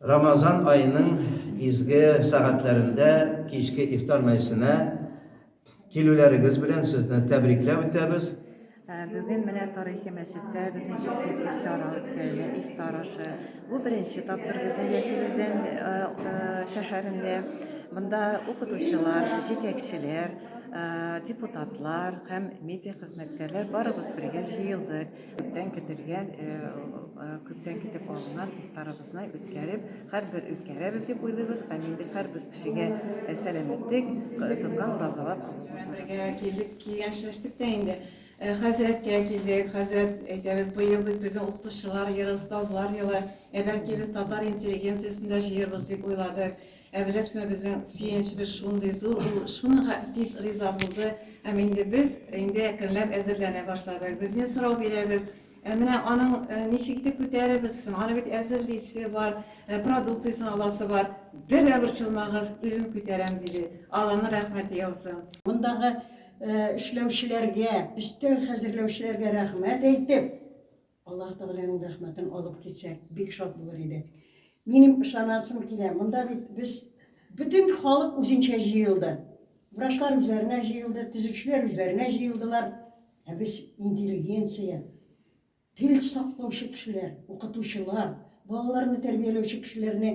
Рамазан аеның изге сәгатьләрендә кичке ифтар мәҗлесенә килүләрегез белән сезне тәбрикләп үтәбез. Бүген менә тарихи мәчеттә безнең искиткеч чара үткәрелә, ифтар ашы. Бу беренче тапкыр безнең Яшел Үзән шәһәрендә. Монда укытучылар, җитәкчеләр, депутатлар һәм медиа хезмәткәрләр барыбыз бергә җыелдык. Күптән көтелгән, э, э, күптән көтеп алынган ифтарыбызны үткәреп, һәрбер үткәрәбез дип уйлыйбыз һәм инде һәрбер кешегә э, сәламәтлек, э, тоткан уразалар кабул булсын. бергә килдек, килгән эшләштек тә инде. Э, Хәзрәткә килдек, хәзрәт әйтәбез, быел бит безнең укытучылар елы, остазлар елы. Ә бәлки без татар интеллигенциясен дә җыербыз дип уйладык. Ә беләсезме, безнең сөенечебез шундый зур, ул шуныга тиз риза булды. Һәм инде без инде әкренләп әзерләнә башладык. Без инде сорау бирәбез, Ә менә аның ничек итеп күтәрербез соң? Аны бит әзерлисе бар, продукциясен аласы бар. Бер дә борчылмагыз, үзем күтәрәм, диде. Алланың рәхмәте яусын. Мондагы эшләүчеләргә, өстәл хәзерләүчеләргә рәхмәт әйтеп. Аллаһ Тәгаләнең рәхмәтен алып китсәк, бик шат булыр идек. Минем ышанасым килә. Монда бит без бөтен халык үзенчә җыелды. Врачлар үзләренә җыелды, төзүчеләр үзләренә җыелдылар. Ә без интеллигенция, тел саклаучы кешеләр, укытучылар, балаларны тәрбияләүче кешеләрне